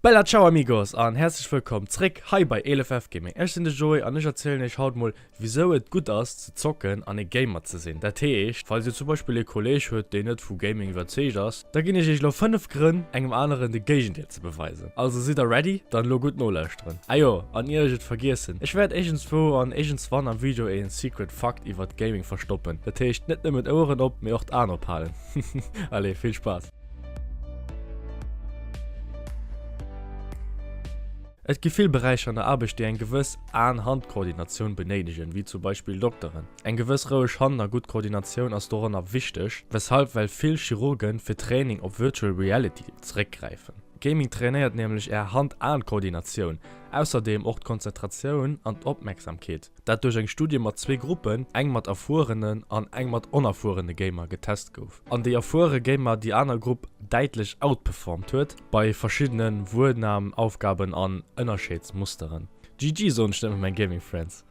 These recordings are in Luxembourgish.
Bella ciao amigos an herzlech wëllkomm zréck hei bei eelefwf Gaming. Ech sinn de Joé an ech erzielen iech haut mol wisou et gutt ass ze zocken an ee Gamer ze sinn. Dat heescht falls dir zum Beispill ee Kolleg hutt deen net vu Gaming iwwerzeegt ass, da ginn ech iech elo 5 Grënn engem aneren de Géigendeel ze beweisen. Also sidd der ready? Dann elo gutt nolauschteren. Ah jo, an ier ech et vergiessen, ech wäert iergendswou an iergendswann am Video ee Secret Fakt iwwert Gaming verstoppen. Dat heescht net nëmmen d'Oueren op mee och d'Aen ophalen. Allez vill Spaass. Et gi vill Beräicher an der Aarbecht, déi eng gewëss Aan-Hand-Koordinatioun benéidegen, wéi zum Beispill Dokteren. Eng gewëss roueg Hand a gutt Koordinatioun ass doranner wichteg, weshalb well vill Chirurgen fir Training op Virtual Reality zeréckgräifen. Gaming trainéiert nämlech är Hand-Aan-Koordinatioun, ausserdeem och d'Konzentratioun an d'Opmerksamkeet. dat duerch eng Studie mat zwee Gruppen, eng mat erfuerenen an eng mat onerfuerene Gamer, getest gouf, an déi erfuere Gamer déi aner Grupp däitlech outperformed huet bei verschiddene Wuernam-Aufgaben an Ënnerscheeds-Musteren. GG soen ech net mat menge Gaming Friends.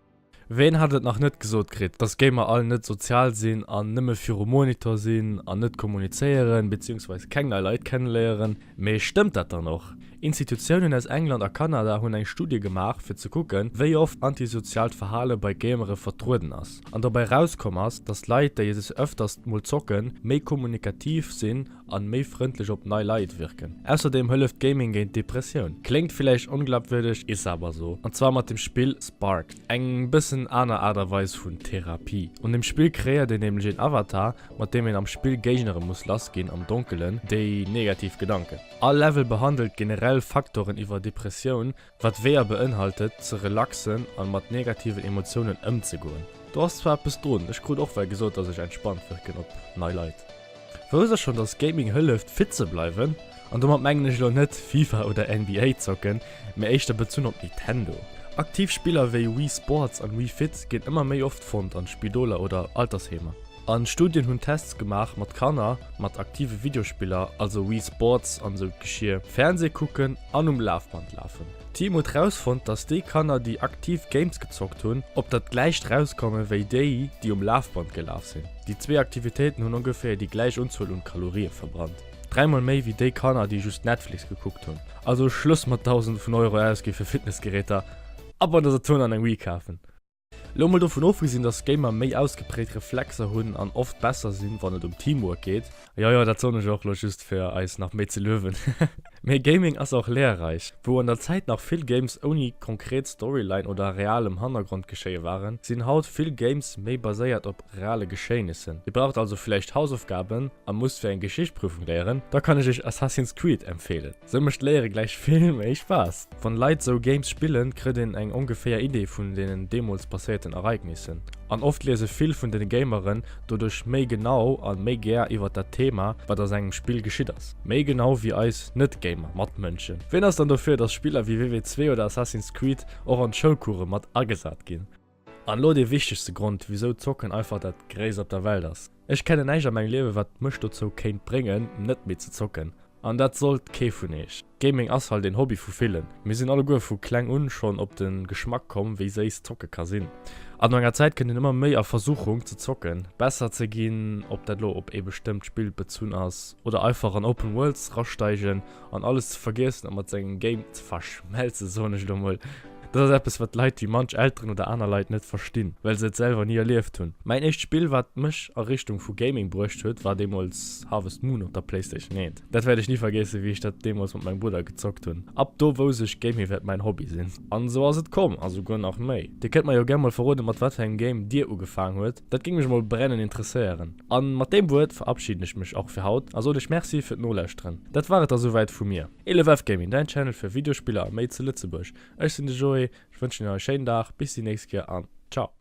Ween hat et nach net gesot kritt, dass Gamer all net sozial sinn an nëmme virum Monitor sinn an net kommunizéieren, beziehungsweise keng nei Leit kenneléieren? Mee stëmmt dat dann och? Institutiounen aus England a Kanada hunn eng Studie gemaach, fir ze kucken, wéi oft antisoziaalt Verhale bei Gamere vertrueden ass. An dobäi erauskomm ass, datt Leit, déi sech ëfters mol zocken, méi kommunikativ sinn an méi frëndlech op nei Leit wierken. Ausserdeem hëlleft Gaming géint d'Depressioun. Kléngt villäicht onglabwürdeg, is awer esou. An zwar mat dem Spill Spark, eng bëssen aner Aart a Weis vun Therapie. An dem Spill kreéiert een nämlech een Avatar, mat deem een am Spill Géignere muss lassginn am Donkelen, déi negativ Gedanken. All Level behandelt generell Faktoren iwwer Depressioun, wat Weeër beinhaltet, ze relaxen an mat negativen Emotiounen ëmzegoen. Do ass zwar eppes drun, ech krut och well gesot dass ech entspannt wërken op nei Leit. Wousst der schon dass Gaming hëlleft fit ze bleiwen? An domat mengen ech elo net Fifa oder NBA zocken, mee éischter bezunn op Nintendo. Aktiv Spiller wéi Wii Sports an Wii Fit ginn ëmmer méi oft fonnt an Spidoler oder Altersheemer. A Studien hunn Tests gemaach mat Kanner mat aktive Videospiller, also Wii Sports an esou Geschier, Fernseh kucken an um Lafband lafen. D'Team huet rausfonnt, dass déi Kanner, déi aktiv Games gezockt hunn, op dat gläicht rauskomme wéi déi, déi um Lafband gelaf sinn. Déi zwee Aktivitéiten hunn ongeféier déi gläich Unzuel un Kalorie verbrannt, dräi mol méi wéi déi Kanner, déi just Netflix gekuckt hunn. Also Schluss mat Dausende vun Euro ausgi fir Fitnessgeräter a bei der Saturn an eng Wii kafen. Lo mol dovun ofgesinn dass Gamer méi ausgeprägt Reflexer hunn an oft besser sinn wann et um Teamwork geet, jo jo dat soen ech och lo just fir eis nach méi ze luewen, mee Gaming ass och lehrreich. Wou an der Zäit nach vill Games ouni konkret Storyline oder realem Hannergrondgeschéie waren, sinn haut vill Games méi baséiert op reale Geschéinnissen. Dir braucht also villäicht Hausaufgaben a musst fir eng Geschicht-Prüfung léieren, da kann ech iech Assassin's Creed empfeelen. Sou mecht Léiere gläich vill méi Spaass! Wann Leit sou Games spillen, krëtt een eng ongeféier Idee vun deenen deemools passéierten Ereignissen. An oft liese vill vun den Gameren doduerch méi genau a méi gär iwwert dat Thema, wat a sengem Spill geschitt ass. Méi genau wéi eis Net-Gamer Matmënschen. Ween ass dann dofir, dass Spiller wéi WW2 oder Assassin's Creed och an d'Schoulcoursë mat agesat ginn? An elo dee wichtegste Grond, wisou Zocken einfach dat Gréisst op der Welt ass. Ech kennen näischt a mengem Liewe wat mech dozou kéint bréngen net méi ze zocken. An dat sollt kee vun eech. Gaming ass halt een Hobby vu villen. Mir sinn alleguer vu kleng un schonn op de Geschmack komm wéi séiss Zocke ka sinn. An no enger Zäit kënnt een ëmmer méi a Versuchung ze zocken, besser ze ginn, ob dat elo op ee bestëmmt Spill bezunn ass oder einfach an Open Worlds ra steigen An alles ze vergiessen a mat sengem Game ze verschmelzen, soen ech elo mol. Dat ass eppes, wat Leit wéi manch Elteren oder aner Leit net verstinn, well se et selwer ni erlieft hunn. Mäin éischt Spill, wat mech a Richtung vu Gaming bruecht huet, war deemools Harvest Moon op der Playstation 1. Dat wäert ech ni vergiessen, wéi ech dat deemools mat mengem Brudder gezockt hunn. Ab do wousst ech, Gaming wäert mäin Hobby sinn. An esou ass et komm, a souguer nach méi. Dir kënnt mer jo gär mol verroden, mat wat fir engem Game Dir ugefaang huet. Dat géing mech mol brennen interesséieren. An mat deem Wuert verabschieden ech mech och fir haut a soen iech Merci fir d'Nolauschteren. Dat war et da souwäit vu mir. 11F Gaming, däin Channel fir Videospiller a méi zu Lëtzebuerg. Ech sinn de Joé, ech wënschen iech nach e schéinen Dag, bis déi nächst Kéier an Ciao!